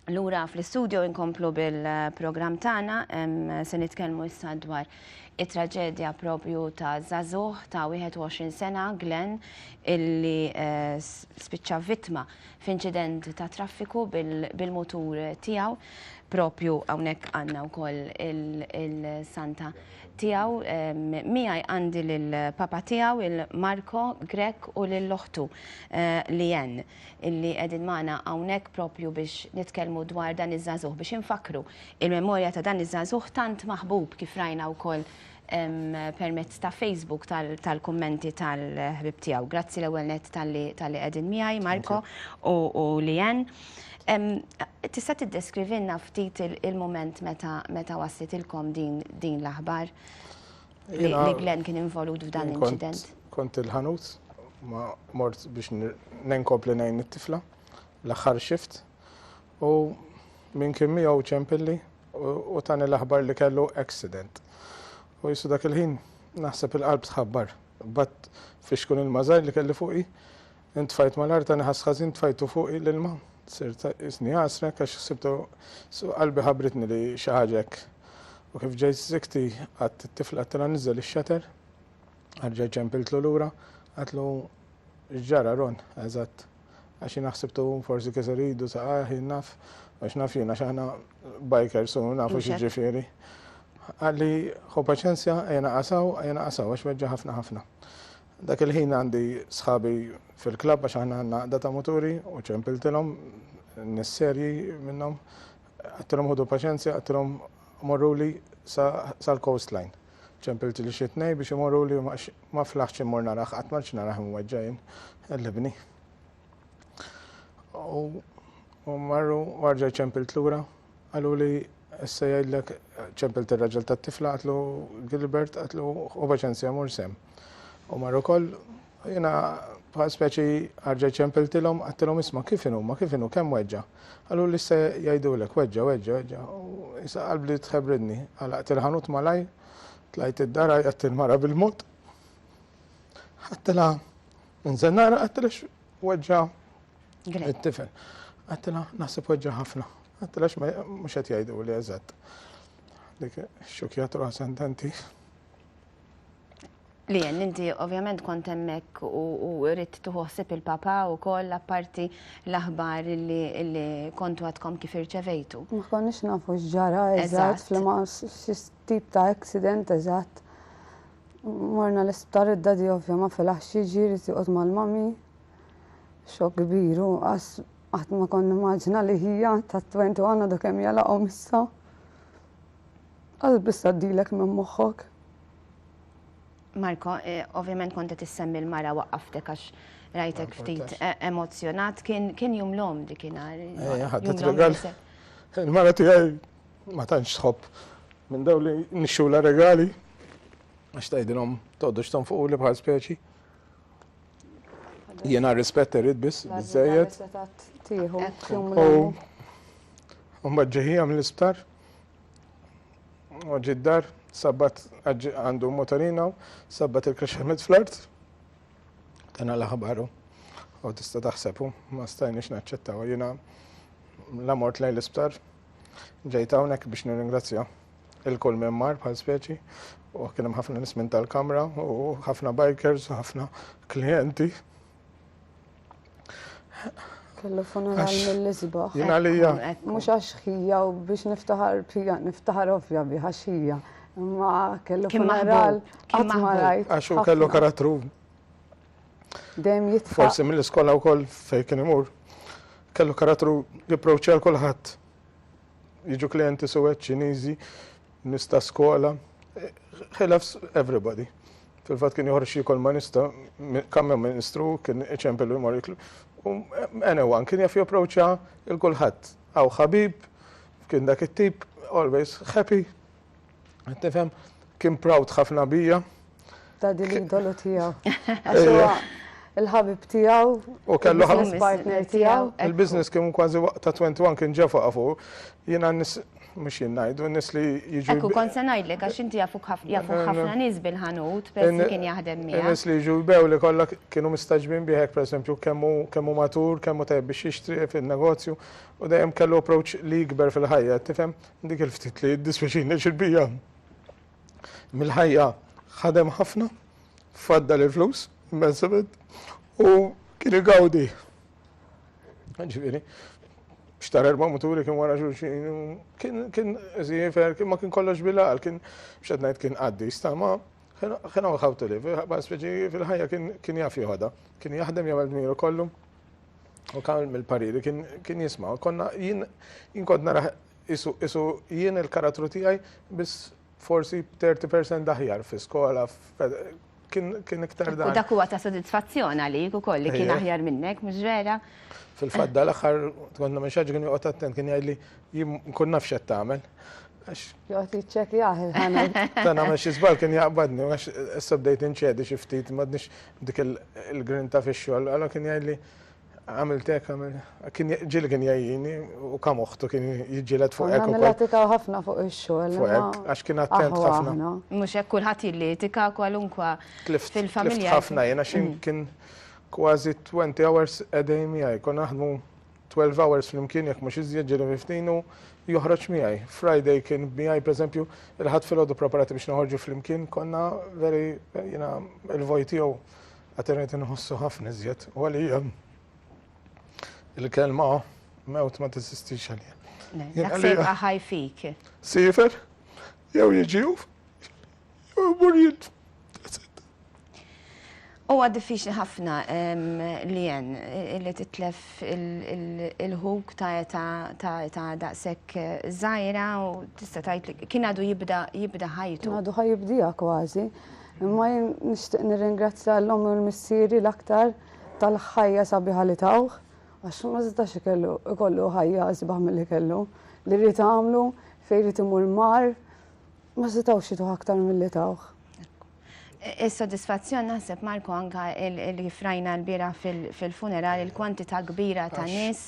Lura fl-istudio inkomplu bil-program tagħna se nitkellmu issa dwar it-traġedja propju ta' Zazuh ta' 21 sena Glenn illi eh, spiċċa vittma f'inċident ta' traffiku bil-mutur tiegħu. Propju hawnhekk għandna wkoll il-santa tiegħu miegħi għandi lil papa tiegħu il-Marko Grek u lil oħtu eh, li jen illi qegħdin magħna hawnhekk propju biex nitkellmu dwar dan iż-żagħżugħ biex infakru il-memorja ta' dan iż-żagħżugħ tant maħbub kif rajna wkoll permezz ta' Facebook tal-kummenti tal-ħbib tiegħu. Grazzi l-ewwel net tal-li qegħdin miegħi Marko u Lien. Tista' tiddeskrivinna ftit il-mument meta wassitilkom din l-aħbar li Glenn kien involut f'dan l-inċident? Kont il-ħanut ma mort biex nenkompli ngħin it-tifla l-aħħar shift. u min kien miegħu ċempilli u tani l-aħbar li kellu accident. U jissu dak il-ħin naħseb il-qalb tħabbar. Bat fixkun il-mażar li kelli fuqi, intfajt mal-art tani ħasħazin tfajtu fuqi l-ilma. Sirt isni għasra kax sibtu qalbi ħabritni li xaħġek. U kif ġejt zikti għat t-tifla t-tela nizzel il-xater, għarġa ċempiltlu l-ura, għatlu ġara ron, eżatt. Għax jien ħsibt u forsi kiser idu sa ah jien naf, għax naf jien għax aħna bikers u nafu xieġifieri. Għalli ħu paċenzja, ejja naqasaw, ejja naqasaw, għax weġġa ħafna ħafna. Dak il-ħin għandi sħabi fil-klab għax aħna għandna għaqda ta' muturi u ċempiltilhom nis-serji minnhom. Għattilhom ħudu paċenzja, għattilhom morruli sa l-coastline. Ċempilt li xi tnej biex imorruli u ma flaħtx immur narah, qatt m'għadx narah imweġġa' jien, qellibni. U marru u arġaj ċempilt lura, qaluli issa jgħidlek ċempilt ir-raġel tat-tifla qatlu Gilbert qatlu u paċenzja mur sem. U marru koll Jiena bħal speċi ħarġet ċempiltilhom għattilhom isma' kif inhu ma kif inhu kemm weġġa'. Qalu li se jgħidulek weġġa' weġġa' weġġa' u issa qalbli tħebbridni. Għalaqt il-ħanut malajr, tlajt id-dar għajjatt il-mara bil-mod. Għattilha inżel nara għattilha x'weġġa' it-tifel. Għattilha naħseb weġġa' ħafna. Għattilha mhux qed jgħiduli eżatt. Dik xukjat ruħha sententi. Lien, inti ovvjament kont hemmhekk u rrid tieħu ħsieb il-Papa wkoll apparti l-aħbar li kontu għadkom kif irċevejtu. Ma konniex nafu x'ġara eżatt f'liema tip ta' accident eżatt. Morna l-isptar id-dadi ovvja ma filax jiġi jrid joqgħod mal-mami. Xokk kbir u qas qatt ma kont nimmaġina li hija ta' 21 għadu kemm jalaqhom issa. Qalb issa ddilek minn moħħok. Marko, eh, ovvjament kont qed issemmi l-mara waqqaftek għax rajtek ah, ftit eh, emozzjonat, kien jum l-om dikinhar. Eh, ħadet regal. Il-mara tiegħi ma tantx tħobb minn daw li nixxula regali għax tgħidilhom toddux tonfuq li bħal speċi. Jiena rispett irid biss biżejjed. U mbagħad ġeħija mill-isptar U ġi d-dar, sabbat għandu motorina, sabbat il-kaxxa met fl-art, tana l-aħbaru. U tista taħsebu, ma stajniex naċċettaw. Jina la mort lejn l-isptar, ġejt hawnhekk biex nirringrazzja il-kull minn mar bħal speċi u kien hemm ħafna nismin tal-kamra u ħafna bikers u ħafna klijenti. Kellu funeral mill-isbaħ. Jien għalija. Mhux għax ħija u biex niftaħar bija, niftaħar ovvja bi għax ħija. Ma kellu funeral qatt ma rajt. Għax u kellu karattru. Dejjem jitfa. Forsi mill-iskola wkoll fejn kien imur. Kellu karattru jipproċċja l kulħadd. Jiġu klijenti suwed Ċiniżi, nista skola. He loves everybody. Fil-fatt kien joħroġ xi kolmanista, kammjon ministru, kien iċempel u jmur jiklu. U anyone kien jaf japproċċa il kulħadd. Aw ħabib, kien dak it-tip, always happy. Tifhem, kien proud ħafna bija. Ta' din l-idolu tiegħu. Il-ħabib tiegħu, il-business partner tiegħu. Il-business kien kważi waqta 21 kien ġefa fuq. Jiena Mhux jien ngħidu, nies li jiġu. Ekku kont se ngħidlek għax inti jafuk ħafna nies bil-ħanut peress li kien jaħdem miegħek. Nies li jiġu jbew li kollha kienu mistaġbin bih hekk pereżempju kemm hu kemm hu matur, kemm hu tajjeb biex jixtri fin-negozju u dejjem kellu approach li jikber fil-ħajja, tifhem? Dik il-ftit li jiddispjaċini għax il-bqija mill-ħajja ħadem ħafna, faddal il-flus, immensament, u kien igawdi Ġifieri, xtar erba' muturi kien wara xulxin, kien zifer, kien ma kien kollox bilal, kien xed ngħid kien għaddi stama, kien hawn how to live, speċi fil-ħajja kien jaf joħodha, kien jaħdem jagħmel dmiru kollu. U kan mill-pariri kien jisma' konna jien kont nara isu jien il-karattru tiegħi biss forsi 30% daħjar fi skola kien iktar dan. U dak huwa ta' sodisfazzjon għalik ukoll li kien aħjar minnek, mhux vera? Fil-fatt dal-aħħar kont nagħmel xi kien joqgħod attent kien jgħidli jien nkun naf x'qed tagħmel. Joqgħod jiċċekjah il-ħana. Ta' nagħmel xi żball kien jaqbadni għax issa bdejt inċedi xi ftit m'għadniex dik il-grinta fix-xogħol, allura kien jgħidli Għamilt hekk, għamilt. Ġieli kien jgħini u kam oħtu kien jiġġieled fuq hekk. Konna nitikaw ħafna fuq ix-xogħol. Fuq hekk, għax kien attent ħafna. Mhux hekk kulħadd jilli jitika kwalunkwa fil-familja. Tlift ħafna jien għax kien kważi 20 hours a day miegħi. Konna naħdmu 12 hours flimkien jekk mhux iżjed ġieli miftin u joħroġ miegħi. Friday kien miegħi pereżempju il-Ħadd filgħodu preparati biex noħorġu flimkien konna veri jiena l-vojt tiegħu. Qatt rajt inħossu ħafna iżjed u għalija il-kelma mewt ma teżistix għalija. Dak se jibqa' ħaj fik. Sifer, jew jiġi jew imur jien. Huwa diffiċli ħafna li jen li titlef il-ħuk ta' eta ta' eta daqshekk żgħira u tista' tgħid kien għadu jibda jibda ħajtu. Għadu ħajibdija kważi. Imma jien nixtieq nirringrazzja l-ommi u l-missieri l-aktar tal-ħajja sabiħa li tawh, għax ma setax ikellu ikollu ħajja isbaħ milli kellu. Li ried għamlu, fejn ried imur mar, ma setgħux jituh aktar milli tawh. Is-sodisfazzjon naħseb Marco anke li kif rajna l-bieraħ fil-funeral il-kwantità kbira ta' nies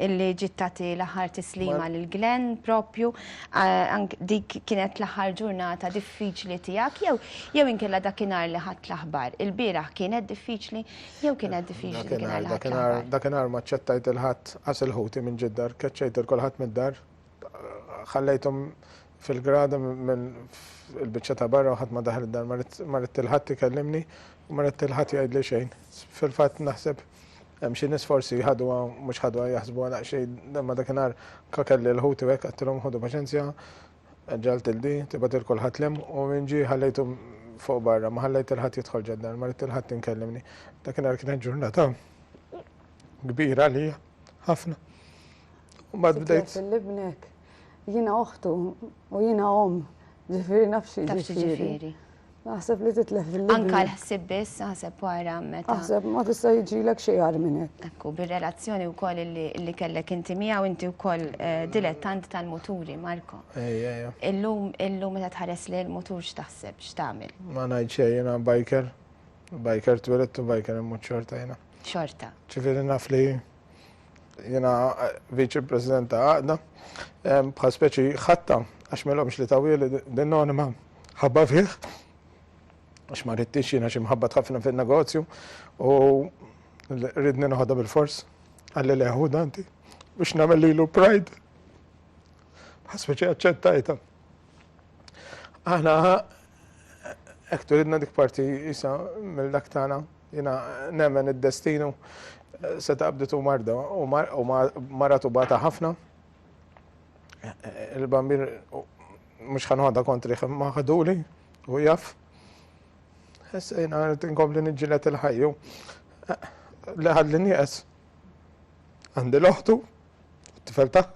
illi ġiet tagħti l-aħħar tislima lil Glenn propju dik kienet l-aħħar ġurnata diffiċli tiegħek jew jew inkella dakinhar li ħadd l-aħbar. Il-bieraħ kienet diffiċli jew kienet diffiċli dakinhar li ħadd l-aħbar. Dakinhar ma ċċettajt il-ħadd qas il-ħuti minn ġid-dar, keċċejt il kulħadd mid-dar, ħallejthom fil-grada minn il-biċċa ta' barra u ħadd ma daħal id-dar, ma ridt il-ħadd ikellimni u ma ridt il-ħadd jgħidli xejn. Fil-fatt naħseb Hemm xi nies forsi ħaduha mhux ħaduha jaħsbuha daqsxejn imma dakinhar ka kelli l-ħuti u hekk għedtilhom ħudu paċenzja, ġalt il di, tibgħat il kulħadd l-hemm u min ġie ħallejtu fuq barra, ma ħallejt il ħadd jidħol ġad-dar, ma ridt il ħadd inkellimni. Dakinhar kienet ġurnata kbira għalija, ħafna. U bad bdejt. Titlet l-ibnek, jiena oħtu u jiena omm, ġifieri naf xi ġifieri. Naħseb li titlef fil Anka l-ħsib biss, naħseb wara meta. Naħseb ma tista' jiġilek xejn għar minn hekk. Ekku, bir-relazzjoni wkoll li kellek inti miegħu inti wkoll eh, dilettant tal-muturi, Marko. Ejja, ejja. Illum illum meta tħares li l-mutur x'taħseb, x'tagħmel? Ma ngħid xejn jiena biker, biker twilet u biker immut xorta jiena. Xorta. Ġifieri naf li jiena eh, viċi president ta' għaqda, eh, bħal speċi ħatta, għax melomx li tawili din-nonima ħabba fih, għax ma rridtix jiena xi mħabba tħafna fin-negozju u ridni noħodha bil-fors għalli leħu danti biex namel lilu pride. Bħal speċi għacċettajta. Aħna hekk turidna dik parti isa mill-dak tagħna, jiena nemmen id-destinu se taqbditu marda u maratu bata ħafna. Il-bambir mhux ħanħodha kontri ma ħaduli u jaf. Issa jiena rrid inkompli niġġieled il-ħajju li ħalli nieqes. Għandi l-oħtu, t-tifel tagħha.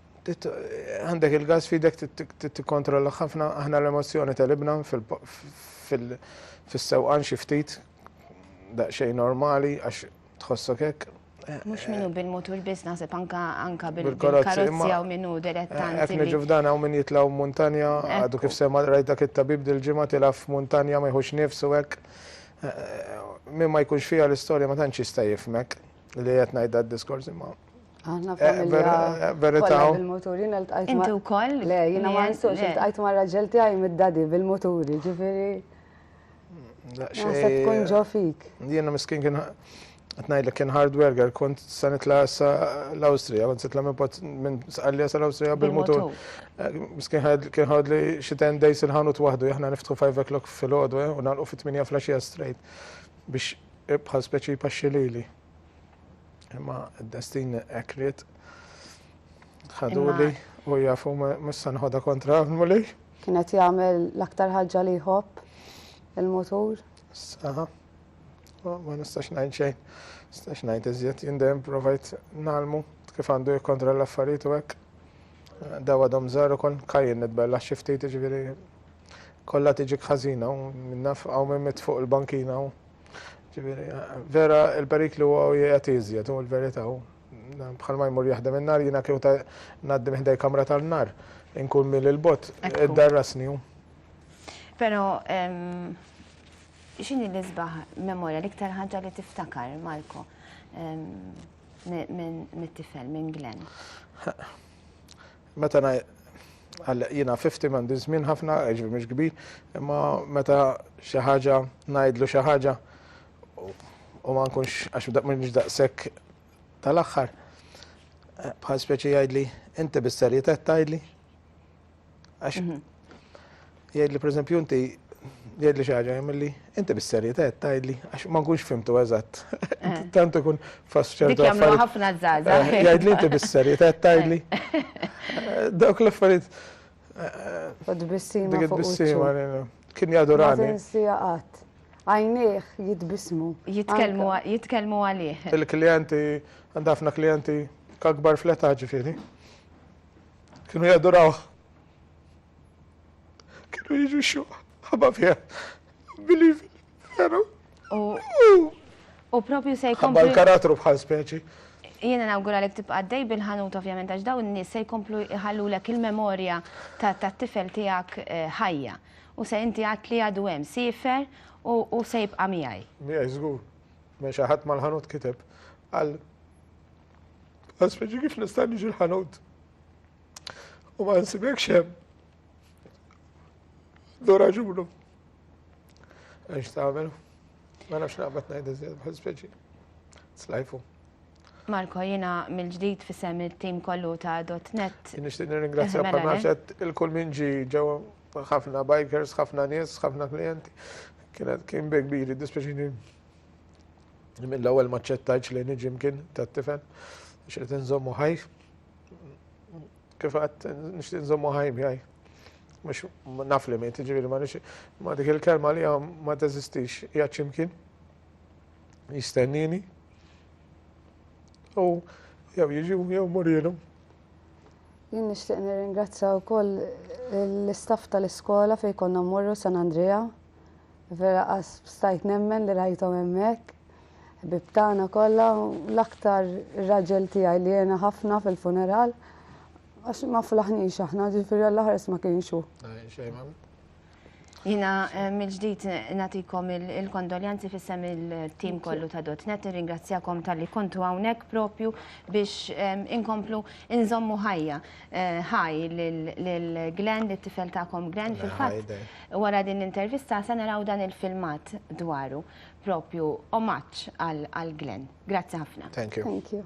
għandek il-gas fidek tikkontrolla ħafna aħna l-emozzjoni tal-ibna fil-sewqan xi ftit daqsxejn normali għax tħossok hekk. Eh, Mux minnu eh, bil-mutur biss naħseb anka anka bil-karozzi għaw minnu direttanti. Eh, Ekni ġufdan għaw minn jitlaw montanja, għadu kif sema rajt dak it-tabib dil-ġimma tilaf montanja ma jħux nifsu hekk. Minn ma jkunx fija l-istorja ma tantx jista' jifmek li qed ngħid d-diskors imma Aħna eh, familja. Eh, Verita. Bil-moturi naltqajt. Inti wkoll? Le, jiena ma nistgħux naltqajt ma' raġel tiegħi mid-dadi bil-moturi, ġifieri. Naħseb tkun ġo fik. Jiena miskin kien Tnajdlek kien hard worker, kont sa nitla sa l-Awstrija, kont sitla minn pot minn sqallija sa l-Awstrija bil-motor. Eh, miskin kien ħad li xi ten days il-ħanut waħdu, jahna niftħu 5 o'clock fil-ħodu, eh, u nalqu fit-8 flasġija straight biex ibħal speċi paxxilili. Imma d-destin hekk ried ħaduli u jafu mhux se nħodha kontra għamuli. Kienet jagħmel l-aktar ħaġa li jħobb il-mutur. Saħa. Ma nistax ngħid xejn. Nistax ngħid iżjed jindem provajt nalmu kif għandu jikkontra l-affarijiet u hekk. Dawa dom żaru kon kajjen nitbella xi ftit ġifieri kollha tiġi ħażina u minnaf hawn minn fuq il-bankina u Ġifieri, vera il-periklu huwa u jgħat iżjed u l-verità hu. Bħal ma jmur jaħdem in-nar jiena kieku ta' ngħaddi minn ħdej kamra tan-nar, inkun mil il-bot, iddarrasni hu. Però x'inhi l-isbaħ memorja l-iktar ħaġa li tiftakar Marko mit-tifel minn Glenn? Meta na għalleq jiena 50 m'għandi żmien ħafna, ġifieri mhux kbir, imma meta xi ħaġa ngħidlu xi ħaġa u ma nkunx għax mhux daqshekk tal-aħħar. Eh, bħal speċi jgħidli, inti bis-serjetà tgħidli. Għax mhm. Jgħidli pereżempju inti jgħidli xi ħaġa jagħmilli inti bis-serjetà qed tgħidli għax ma nkunx fimtu eżatt. Eh. Tant ikun fast ċertu affarijiet. ħafna żgħażagħ. Eh, jgħidli inti bis-serjetà qed tgħidli. Eh. Dawk l-affarijiet. U tbissima. Dik tbissima kien jadurani. Ma tinsija qatt għajnieh jitbismu. Jitkellmu għalih. Il-klijenti, għandafna klijenti kakbar fleta ġifiri. Kienu jadurawh. Kienu jiġu xuq, ħabba fija. Believe it, veru. U propju se jkomplu. Ħabba l-karattru bħal speċi. Jiena nawgura li tibqa' dej bil-ħanut ovvjament għax daw n-nies se jkomplu jħallu lek il-memorja tat-tifel tiegħek eh, ħajja. U se inti għat li għadu hemm sifer u se jibqa' miegħi. Miegħi żgur. Ma xi ħadd mal-ħanut kiteb għal Għaspeġi kif nista' niġi l-ħanut. U ma nsibekx hemm. Do raġunu. Għax tagħmel. Ma nafx naqbad ngħid iżjed bħal speċi. Slajfu. Marko, jina mill-ġdid fissem il-tim kollu ta' .net. Nishtiq nirringrazzja eh, mela, panaċet eh? il-kull minn ġi ġew ħafna bikers, ħafna nies, ħafna klienti. Kienet kien big biri, dispeċini mill-ewwel maċċettajċ li niġi mkien tat-tifel, xirrit nżommu ħajf. kif għat nishtiq nżommu ħaj miħaj. Mux naf li mejt, ġiviri ma nix, ma dik il-kelma li għam ma teżistix, jgħat ximkien, jistennini, u jew jiġu jew murilu. Jien nixtieq nirringrazzja wkoll l-istaff tal-iskola fejn konna mmorru San Andrea Vera qas stajt nemmen li rajthom hemmhekk. Ħbieb tagħna kollha u l-aktar ir-raġel tiegħi li għena ħafna fil-funeral għax ma flaħniex aħna ġifieri għall-aħres ma kienx hu. Jina eh, mill-ġdid natikom il-kondoljanzi fissem il-tim kollu ta' dot. Net ringrazzjakom tal-li kontu għawnek propju biex eh, inkomplu inżommu ħajja. Hi lil Glenn, lit-tifel tagħkom Glenn. Fil-fatt, wara din l-intervista se naraw dan il-filmat dwaru, propju omaġġ għal Glenn. Grazzi ħafna. Thank you. Thank you.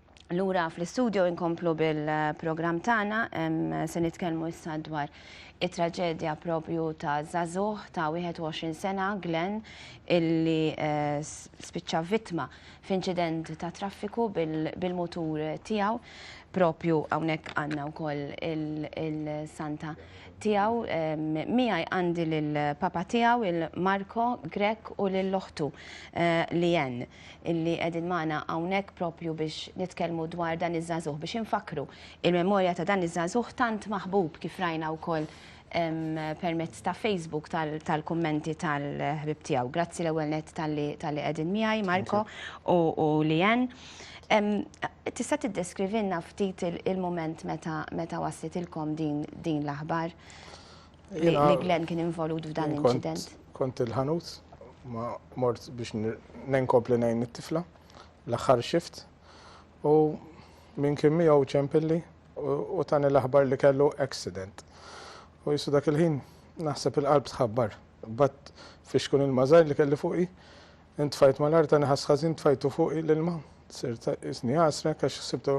Lura fl-istudio inkomplu bil-programm tagħna se nitkellmu issa dwar it-traġedja propju ta' Zazuh ta' 21 sena Glenn illi eh, spiċċa vittma f'inċident ta' traffiku bil-mutur tiegħu propju hawnhekk għandna wkoll il-santa tiegħu miegħi għandi lill-papa tiegħu il-Marko Grek u lill-oħtu eh, Lien. illi qegħdin magħna hawnhekk proprju biex nitkellmu dwar dan iż-żagħżugħ biex infakkru il-memorja ta' dan iż-żagħżugħ tant maħbub kif rajna wkoll permezz ta' Facebook tal-kummenti tal-ħbib tiegħu. Grazzi l-ewwel net tal-li qegħdin miegħi Marko u Lien. Tista' tiddeskrivinna ftit il-mument meta waslitilkom din l-aħbar? li Glenn kien involut f'dan l-inċident. Kont il-ħanut, ma mort biex nenkopli nejn it-tifla, l-axħar xift, u minn kien miegħu ċempilli u tani l-aħbar li kellu accident. U jisu dak il-ħin naħseb il-qalb tħabbar, bat fiex kun il-mażar li kelli fuqi, Intfajt malajr tani ħass ħażin tfajtu fuqi l-ilma. Sirt qisni għasrek għax ħsibtu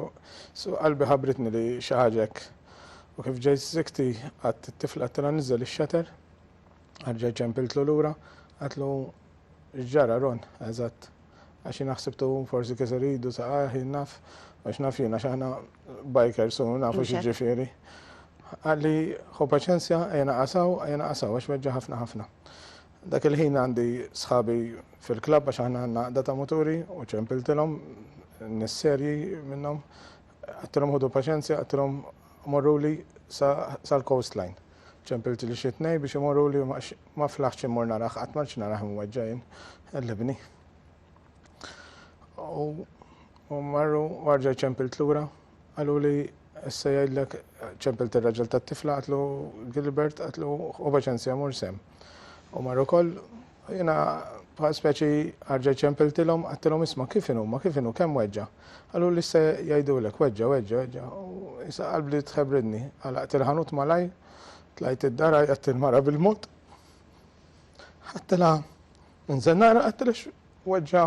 suq qalbi ħabbritni li xi ħaġa hekk. U kif ġejt żikti għadt it-tifla għedtilha niżżel ix-xater. Erġajt ċempiltlu lura, għedtlu x'ġara Ron, eżatt. Għax jiena ħsibtu forsi kiser idu saqajh jien naf, u x'naf jien għax aħna bikers u nafu x'jiġifieri. Qalli, ħu paċenzja, ejja naqas hawn, ejja naqas hawn għax weġġa' ħafna ħafna. Dak il-ħin għandi sħabi fil-klabb għax aħna għandna għaqda ta' muturi u ċempiltilhom nies serji minnhom. Għattilhom ħudu paċenzja, għattilhom morruli sal-coastline. Ċempilt li xi tnej biex imorruli ma flaħx immur narah, qatt ma narah imweġġajn l-ibni. U marru warġa ċempilt lura. Qaluli, Issa jgħidlek, ċempilt ir-raġel tat-tifla, għatlu Gilbert, għatlu obeċenzja mur sem. U mar ukoll, jiena bħal speċi għarġa ċempiltilhom, għattilhom isma' kif inhuma, kif inhu, kemm weġġa. Qaluli, Issa jgħidulek, weġġa, weġġa, weġġa. Issa qalbli tħebbridni, għalaqt il-ħanut malajr, tlajt id-dar għajjatt il-mara bil-mod, ħadtilha minn żennara, għattilha x'weġġa.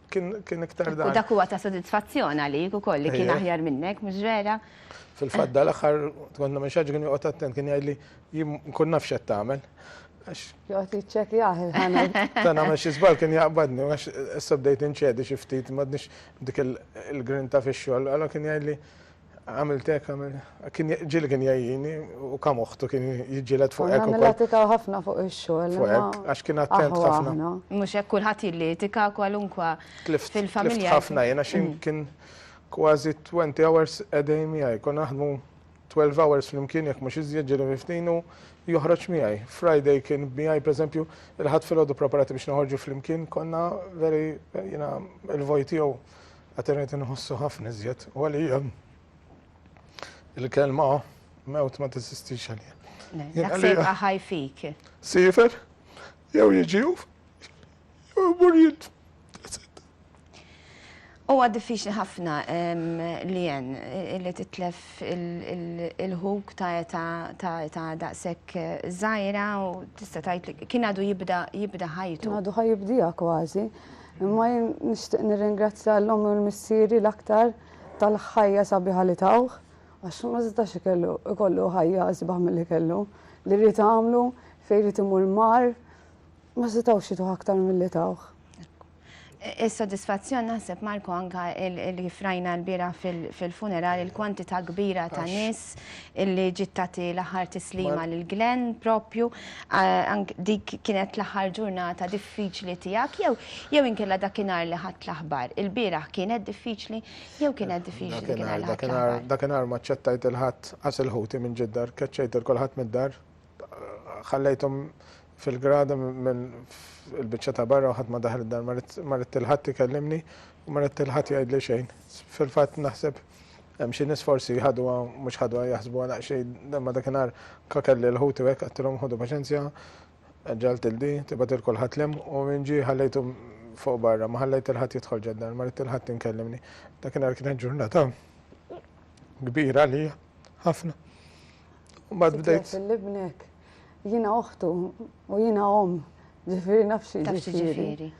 kien kien iktar dan. U dak huwa ta' sodisfazzjon għalik ukoll li kien aħjar minnek, mhux vera? Fil-fatt dal-aħħar kont nagħmel xi kien joqgħod attent kien jgħidli jien nkun naf x'qed tagħmel. Joqgħod jiċċekjah il-ħana. Ta' nagħmel xi żball kien jaqbadni għax issa bdejt inċedi xi ftit m'għadniex dik il-grinta fix-xogħol, allura kien jgħidli Għamilt hekk, għamilt. Kien ġieli kien jgħinni u kam oħtu kien jiġġieled fuq hekk. Għamilha tikaw ħafna fuq ix-xogħol. Fuq hekk, għax kien attent ħafna. Mhux hekk kulħadd jilli tika kwalunkwa fil-familja. Tlift ħafna jien għax kien kważi 20 hours a day miegħi. Kon naħdmu 12 hours flimkien jekk mhux iżjed ġieli miftin u joħroġ miegħi. Friday kien miegħi pereżempju il-ħadd filgħodu preparati biex noħorġu flimkien konna veri jiena l-vojt tiegħu Għad irrid inħossu ħafna iżjed u għalija il-kelma mewt ma teżistix għalija. Dak se jibqa' ħaj fik. Sifer, jew jiġi jew imur jint. Huwa diffiċli ħafna li jen li titlef il-ħuk ta' eta ta' eta daqshekk żgħira u tista' tgħid kien għadu jibda jibda ħajtu. Għadu ħajibdija kważi. Imma jien nixtieq nirringrazzja l-ommi u l-missieri l-aktar tal-ħajja sabiħa li tawh, għax ma setax ikellu ikollu ħajja isbaħ milli kellu. Li ried għamlu, fejn ried imur mar, ma setgħux jituh aktar milli tawh. Is-sodisfazzjon naħseb Marco anka li kif rajna l-bieraħ fil-funeral il-kwantità kbira ta' nies Alex illi ġiet tagħti l-aħħar tislima lil Glenn propju dik kienet l-aħħar ġurnata diffiċli tiegħek jew jew inkella dakinhar li ħadd l-aħbar. Il-bieraħ kienet diffiċli jew kienet diffiċli dakinhar li ħadd l-aħbar. Dakinhar ma ċċettajt il-ħadd qas il-ħuti minn ġid-dar, keċċejt il kulħadd mid-dar, ħallejthom fil-grada minn il-biċċa ta' barra u ħadd ma daħal id-dar, ma ridt il-ħadd ikellimni u ma ridt il-ħadd jgħidli xejn. Fil-fatt naħseb Hemm xi nies forsi ħaduha mhux ħaduha jaħsbuha daqs xejn imma dakinhar ka kelli l-ħuti u hekk għedtilhom ħudu paċenzja, ġalt il di, tibgħat il kulħadd lhemm u min ġie ħallejtu fuq barra, ma ħallejt il ħadd jidħol ġad-dar, ma ridt il ħadd inkellimni. Dakinhar kienet ġurnata kbira għalija, ħafna. U bad bdejt. Fil-libnek, jiena oħtu u jiena om, ġifieri nafx ġifieri.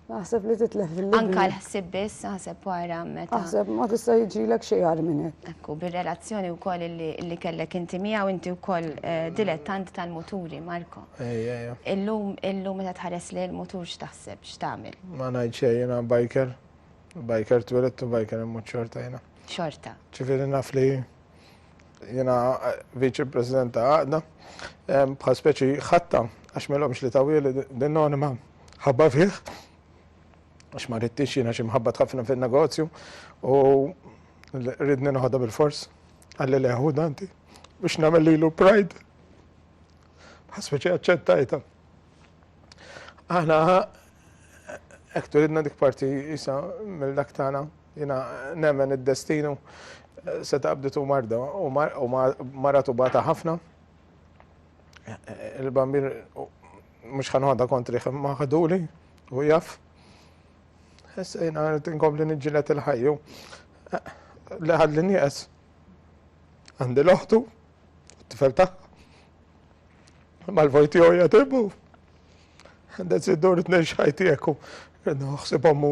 Naħseb li titlef fil Anka l-ħsib biss, naħseb wara meta. Naħseb ma tista' jiġilek xejn għal minn hekk. Ekku, bir-relazzjoni wkoll li kellek inti miegħu inti wkoll eh, dilettant tal-muturi, Marko. Ejja, ejja. Illum, illum meta tħares li l-mutur x'taħseb, x'tagħmel? Ma ngħid xejn jiena biker, biker twilet u biker immut xorta jiena. Xorta. Ġifieri naf li Jiena Viċi President ta' għaqda bħal speċi ħatta għax m'ilhomx li tawwieli din nonima ħabba fih għax ma ridtix jiena xi mħabba tħaffna fin-negozju u ridni noħodha bil-fors għalli leħu danti biex nagħmel lilu pride bħal speċi aċċettajta. Aħna hekk turidna dik parti isa mill-dak tagħna Jiena nemmen id-destinu seta' qabditu marda u mara tubata ħafna. Il-bambin mhux ħa noħodha kontrih imma ħaduli u jaf. Issa jiena rrid inkompli niġġieled il-ħajju li ħadli nieqes. Għandi l-oħtu, t-tifel tagħha. Imma l-vojt tiegħu jagħtibu. Għandha ssidur tnejn x'ħajti hekk u ħsib ommu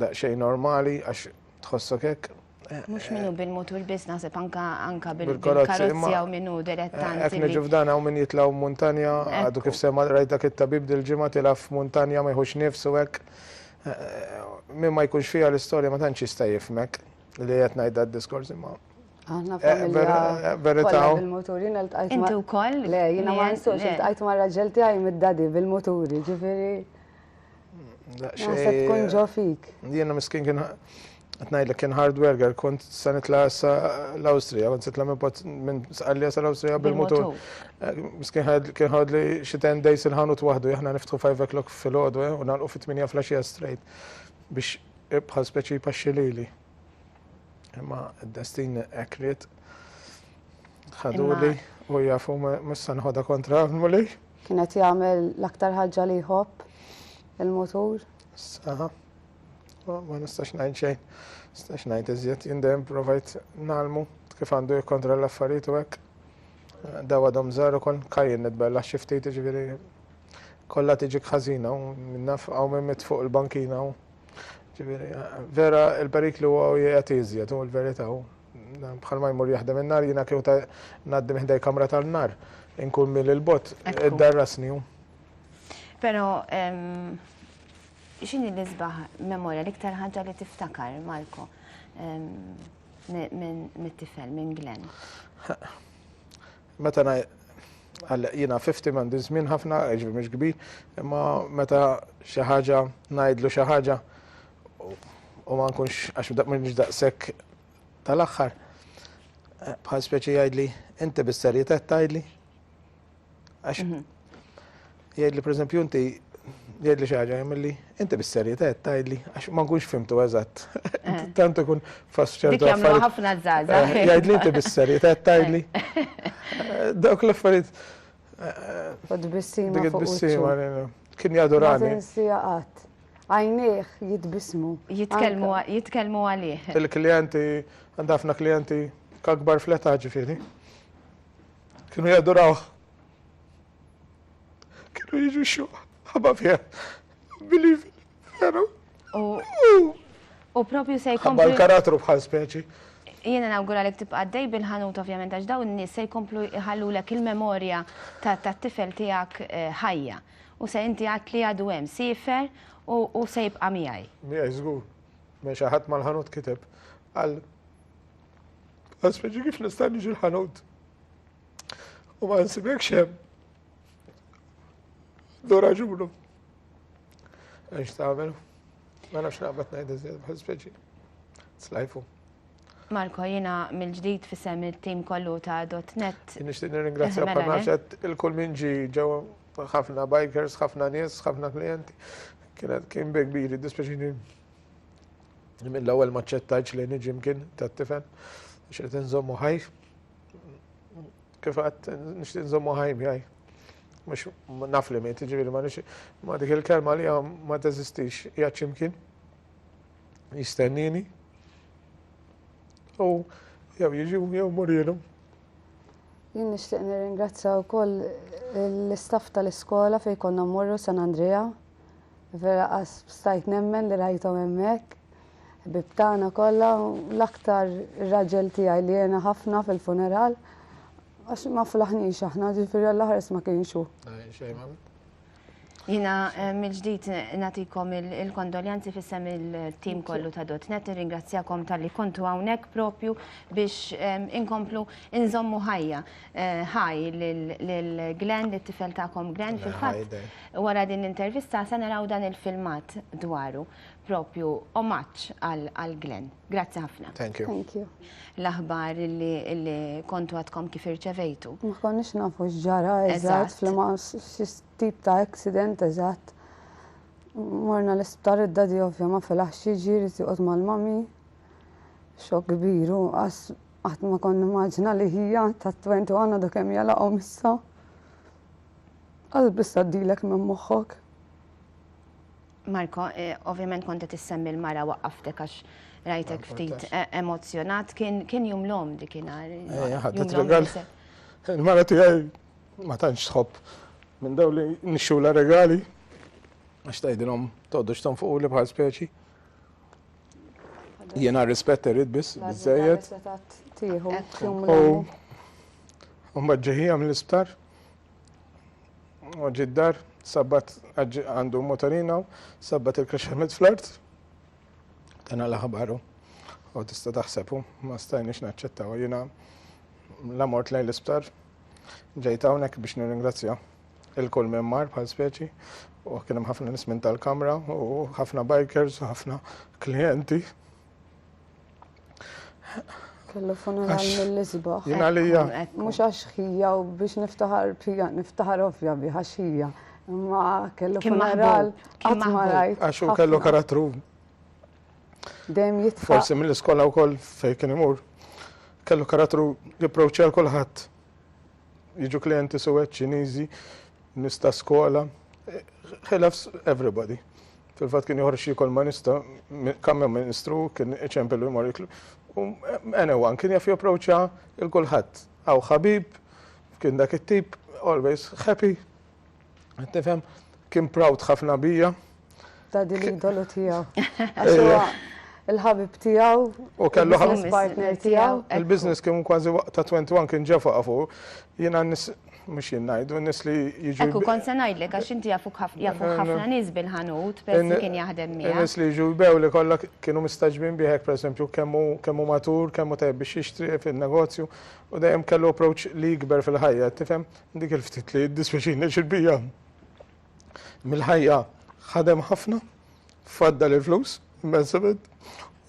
daqsxejn normali għax tħossok hekk. Mhux minnu bil-mutur biss naħseb anka anka bil-karozzi u minnu direttant. Qed niġu f'dan hawn min jitlgħu muntanja, għadu kif sema rajt dak it-tabib dil-ġimgħa tilgħa f'muntanja ma jħux nifsu hekk. Min ma jkunx fiha l-istorja ma tantx jista' jifhmek li qed ngħid dad-diskors imma. Aħna familja. Verità. Bil-muturin il-tqajt. Inti wkoll? Le, jiena ma nsuqx il-tqajt ma' raġel tiegħi mid-dadi bil-muturi, ġifieri. Naħseb tkun ġo fik. Jiena miskin kien Tnajdlek kien hard worker, kont sa nitla sa l-Awstrija, kont sitla minn sqallija sa l-Awstrija bil-motor. Miskin kien ħad li xi ten days il-ħanut waħdu, jahna niftħu 5 o'clock fil-ħodu, u nalqu fit-8 flasġija straight biex bħal speċi paxxilili. Imma d-destin hekk ried ħaduli u jafu mhux se nħodha kontra għamuli. Kien qed jagħmel l-aktar ħaġa li jħobb il-mutur. Saħa. Ma nistax ngħid xejn. Nistax ngħid iżjed jien dejjem provajt nagħlmu kif għandu jikkontra l-affarijiet u hekk. Daw għadhom żgħar ukoll kajjin nitbella xi ftit jiġifieri kollha tiġi ħażina u minnaf hawn minn mit fuq il-bankina u Ġifieri, vera il-periklu huwa u jgħati iżjed, u l-verità hu. Bħal ma jmur jaħdem in-nar, jiena kieku ta' ngħaddi minn ħdej kamra tal-nar, inkun mil il-bot, id-darrasni hu. Però, x'inhi l-isbaħ memorja, l-iktar ħaġa li tiftakar, Marco, mit-tifel, minn Glenn? Meta na għal jiena 50 m'għandi żmien ħafna, ġifieri mhux kbir, imma meta xi ħaġa ngħidlu xi ħaġa u ma nkunx għax mhux daqshekk tal-aħħar eh, bħal speċi jgħidli inti bis-serjetà tgħidli. Għax mhm. Jgħidli pereżempju inti jgħidli xi ħaġa jagħmilli inti bis-serjetà qed tgħidli għax ma nkunx fimtu eżatt. Eh. Tant ikun fass ċertu. Dik jagħmlu ħafna żgħażagħ. Eh, eh. Jgħidli inti bis-serjetà qed tgħidli. Dawk l-affarijiet. U tbissima fuq tbissima kien jadurani. Ma tinsija qatt. Għajnieh jitbismu. Jitkellmu għalih. Il-klijenti għandha ħafna klijenti kakbar fl-età ġifieri. Kienu jadurawh. Kienu jiġu xjuħ, ħabba fija, believe it, veru. U propju se jkomplu. Ħabba l-karattru bħal speċi. Jiena nawgura li tibqa' dej bil-ħanut ovvjament għax dawn n-nies se jkomplu jħallulek il-memorja tat-tifel tiegħek eh, ħajja. U se inti għad li għadu hemm sifer u se jibqa' miegħi. Miegħi żgur. Me xi ħadd mal-ħanut kiteb għal Aspeġi kif nista' niġi l-ħanut. U ma nsibek xem. Do raġunu. Għax tagħmel. Ma nafx naqbad ngħid iżjed bħal speċi. Slajfu. Marko, jina mill-ġdid fissem il-tim kollu ta' .net. Nishtiq nirringrazzja eh, mela, panaċet eh? il-kull minn ġi ġew ħafna bikers, ħafna nies, ħafna klienti. Kienet kien big biri, dispeċini mill-ewwel maċċettajċ li niġi mkien tat-tifel, xirtin zommu ħajf. Kif għat nixtieq nżommu ħaj miegħi. Mhux naf li mejt, ġifieri ma nix ma dik il-kelma li ma teżistix hija ċimkien. Jistennini. U jew jiġu jew murielu. Jien nixtieq nirringrazzja wkoll l-istaff tal-iskola fejn konna mmorru San Andrea Vera qas stajt nemmen li rajthom hemmhekk. Ħbieb tagħna kollha u l-aktar ir-raġel tiegħi li għena ħafna fil-funeral għax ma flaħniex aħna ġifieri għall-aħres ma kienx hu. Jina eh, mill-ġdid natikom il-kondoljanzi fissem il-tim kollu ta' dotnet, ringrazzjakom tal-li kontu għawnek propju biex inkomplu inżommu ħajja eh, ħaj l-Glenn, l-tifel ta'kom Glenn fil-fat. Wara din l-intervista se naraw dan il-filmat dwaru, propju omaġġ għal Glenn. Grazzi ħafna. Thank you. Thank you. L-aħbar li kontu għadkom kif irċevejtu. Ma konniex nafu x'ġara eżatt f'liema tip ta' accident eżatt. Morna l-isptar id-dadi ovvja ma filaħx jiġi jrid joqgħod mal-mami. Xokk kbir u qatt ma kont nimmaġina li hija ta' 21 għadu kemm jalaqhom issa. Għal biss għaddilek minn moħħok? Marco, eh, ovvjament kont qed issemmi l-mara waqqaftek għax rajtek ftit eh, emozzjonat, kien kien jum l-om dik inhar. Eh, ħadet regal. Il-mara tiegħi ma tantx tħobb minn daw li nixxula regali għax tgħidilhom toddux tonfuqu li bħal speċi. Jiena rispett irrid biss biżejjed. U mbagħad ġejħija mill-isptar. U ġiddar, sabbat għandu motorina, sabbat il-kaxxamet fl-art. Tana l-aħbaru. U tista' taħsebu, ma stajniex naċċettaw. Jiena la mort lejn l-isptar, ġejt hawnhekk biex nirringrazzja. Ilkoll minn mar bħal speċi u kien hemm ħafna nies minn tal-kamra u ħafna bikers u ħafna klijenti. Kellu funeral mill-isbaħ. Jien għalija. Mhux għax ħija u biex niftaħar bija, niftaħar ovvja bi għax ħija. Ma kellu funeral qatt ma rajt. Għax u kellu karattru. Dejjem jitfa. Forsi mill-iskola wkoll fejn kien imur. Kellu karattru jipproċċja l kulħadd. jiġu klienti suwed Ċiniżi, nista' skola, ħilaf everybody. Fil-fatt kien joħroġ jikol ma nista' kamma ministru kien iċempelu jmur jiklu. Anyone kien jaf japproċċa il-kulħadd. Aw ħabib, kien dak it-tip, always happy, Qed tifhem? Kien proud ħafna bija. Ta' din l-idolu tiegħu. Għax huwa il-ħabib tiegħu. U kellu ħafna partner tiegħu. Il-business kien kważi waqt ta' 21 kien ġefa għafu. Jiena mux jinnajdu, nis li jiġu. Ekku, kon se najdlek, għax inti jafu ħafna nis bil-ħanut, pezzi kien jaħdem mi. Nis li jiġu bew li kolla kienu mistaġbin biħek, per esempio, kemmu matur, kemmu tajb biex jixtri fil-negozju, u dajem kellu approach li jikber fil-ħajja, tifem, Dik il-ftit li jiddispjaċini għax il-bqija mill-ħajja ħadem ħafna, faddal il-flus, immensament,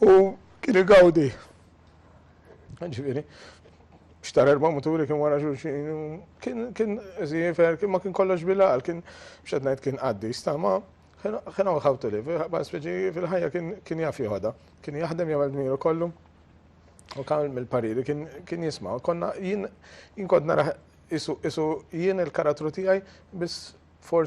u kien igawdi. Ġifieri, xtar erba' muturi kien wara xulxin, kien żiefer, kien ma kien kollox bil-għal, kien xed ngħid kien qaddi, stama kien hawn ħawtu li, speċi fil-ħajja kien jaf joħodha, kien jaħdem jagħmel dmiru kollu. U kan mill-pariri kien jisma, konna jien kont nara isu jien il-karattru tiegħi biss forsi